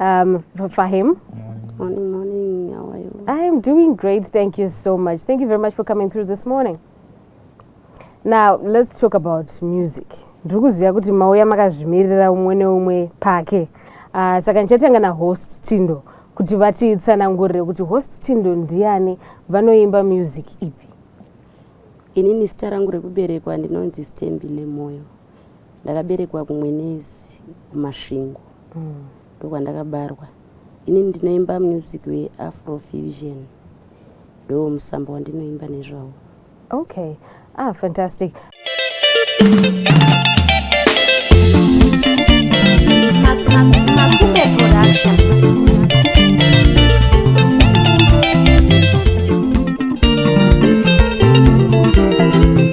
Um, Fahim. Morning, morning. How are you? I am doing great. Thank you so much. Thank you very much for coming through this morning. Now, let's talk about music. Ndiri kuziva kuti mauya makazvimirira umwe neumwe pake. Uh, saka ndichatanga na host Tindo kuti vatitsanangurire kuti host Tindo ndiani vanoimba music ipi. Inini zita rangu rekuberekwa ndinonzi Stembi Nemoyo. ndakaberekwa kumwenezi kumasvingo mm. ndokwandakabarwa ini ndinoimba music weafro fusion ndo musambo wandinoimba nezvawo okay ah fantastic Makume Production.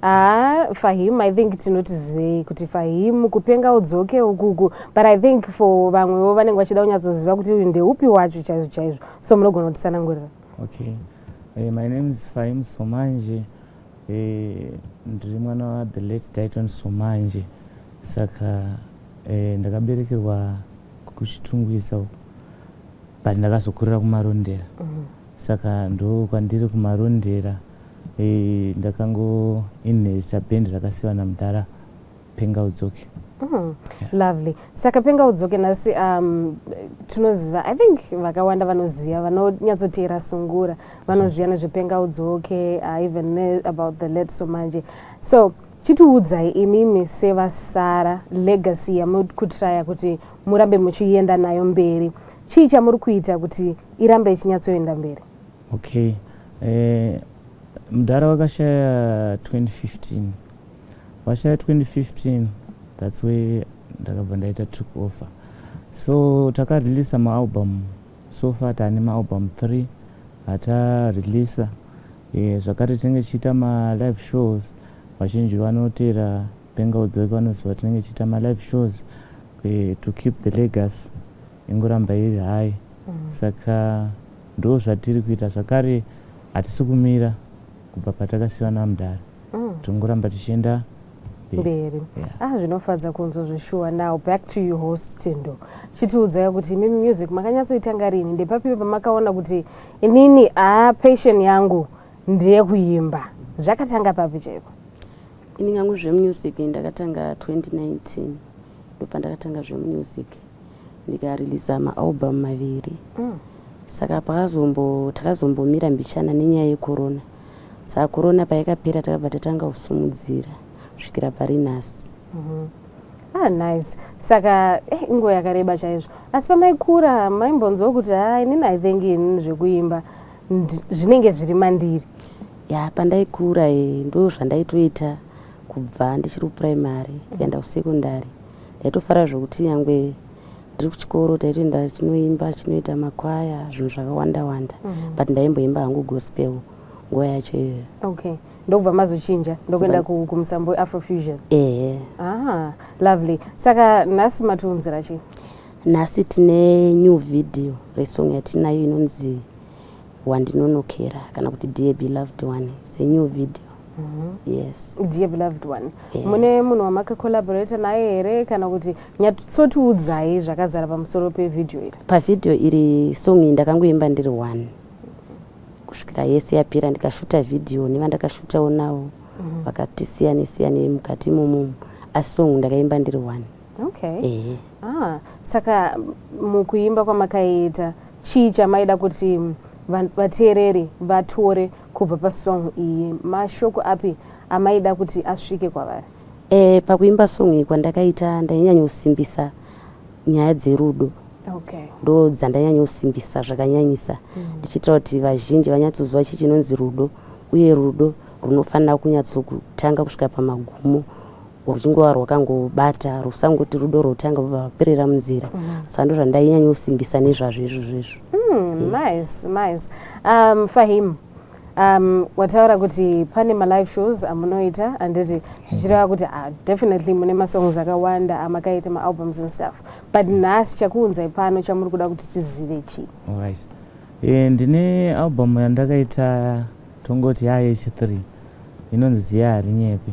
haa ah, fahim i think tinotizivei kuti fahim kupenga udzoke ukuku but i think for vamwewo vanenge vachida kunyatsoziva kuti uyu ndeupi wacho chaizvo chaizvo so munogona kutisanangurira okay hey, eh, my name is fahim somanje eh, ndiri mwana wathe late dayton somanje saka eh, ndakaberekerwa kuchitungwisa but ndakazokurira kumarondera mm -hmm. saka ndokwandiri kumarondera mm -hmm. Eh, ndakango inhesta band rakasiwa namudhara penga udzoke mm, lovely saka penga udzoke nhasi um, tinoziva i think vakawanda vanoziva vanonyatsoteera sungura vanoziva nezvepenga udzoke uh, even about the late somanje so chitiudzai imimi sevasara legacy yamuri kutraya kuti murambe muchienda nayo mberi chii chamuri kuita kuti irambe ichinyatsoenda mberi Okay. Eh, mdara wakashaya 2015 washaya 2015 that's way ndakabva ndaita took offer so takareleasa maalbum so far taane maalbum 3 hatareleasa eh, zvakare tinenge tichiita malive shows vazhinji vanotera benga udzoka vanoziva tinenge tichiita malive shows eh, to keep the legacy ingoramba iri high mm. saka Ndozvatiri kuita zvakare hatisi kumira kubva patakasiwa namdara mm. tingoramba tichienda mberi yeah. ah zvinofadza kunzwa zveshuwa now back to you host tindo chitiudzai kuti imimi music makanyatsoitanga rini ndepapi pamakaona kuti inini ah passion yangu ndeyekuimba zvakatanga papi chaiko ini ngangu zvemusic ndakatanga 2019 ndopandakatanga zvemusic ndikariliza maalbum maviri mm. saka pakazombo takazombomira mbichana nenyaya yekorona saka korona payakapera takabva tatanga kusumudzira kusvikira pari nhasi mm -hmm. ah, nice saka eh, inguva yakareba chaizvo asi pamaikura maimbonzwa kuti ha inini i think inini zvekuimba zvinenge zviri mandiri ya pandaikura e, ndo zvandaitoita kubva ndichiri kupuraimary mm. kuenda kusekondary Ndaitofara zvekuti nyangwe ndiri kuchikoro taitoenda chinoimba chinoita makwaya zvinhu zvakawanda wanda mm -hmm. but ndaimboimba hangu gospel nguva yacho iyoyo okay ndokubva mazochinja ndokuenda kumusambo weafrofusion ehe ah, lovely saka nhasi matiunzira chii nhasi tine new video resong yatinayo inonzi wandinonokera kana kuti dear beloved one it's a new video mm -hmm. yes dear beloved one yeah. mune munhu wamaka collaborate naye here kana kuti nyatsotiudzai zvakazara pamusoro pevideo iri pavideo iri song iyi ndakangoimba ndiri one kusvikira yese yapera ndikashuta video nevandakashutawo navo mm -hmm. vakatisiyanisiyanei mukati imomomo asi song ndakaimba ndiri one okay. yeah. Ah, saka mukuimba kwamakaita chii chamaida kuti vateereri vatore kubva pasong iyi? Mashoko api amaida kuti asvike kwavari? E, pakuimba song iyi kwandakaita ndainyanyosimbisa nyaya dzerudo okay. ndo dzandanyanyosimbisa zvakanyanyisa mm. ndichiitira kuti vazhinji vanyatsoziva chii chinonzi rudo uye rudo runofanira kunyatsokutanga kusvika pamagumo rwuchingova rwakangobata rwusangoti rudo rwotanga vobva vaperera munzira mm -hmm. saka ndozvandainyanyosimbisa nezvazvo izvozvo izvo mm, nice, nice. Um, fahim um, wataura kuti pane malive shows amunoita handiti zvichireva kuti uh, definitely mune masongs akawanda amakaita maalbums and stuff but nhasi chakuunzai pano chamuri kuda kuti tizive chii right. e, ndine album yandakaita tongoti yayeshe 3 inonzi ziya harinyepe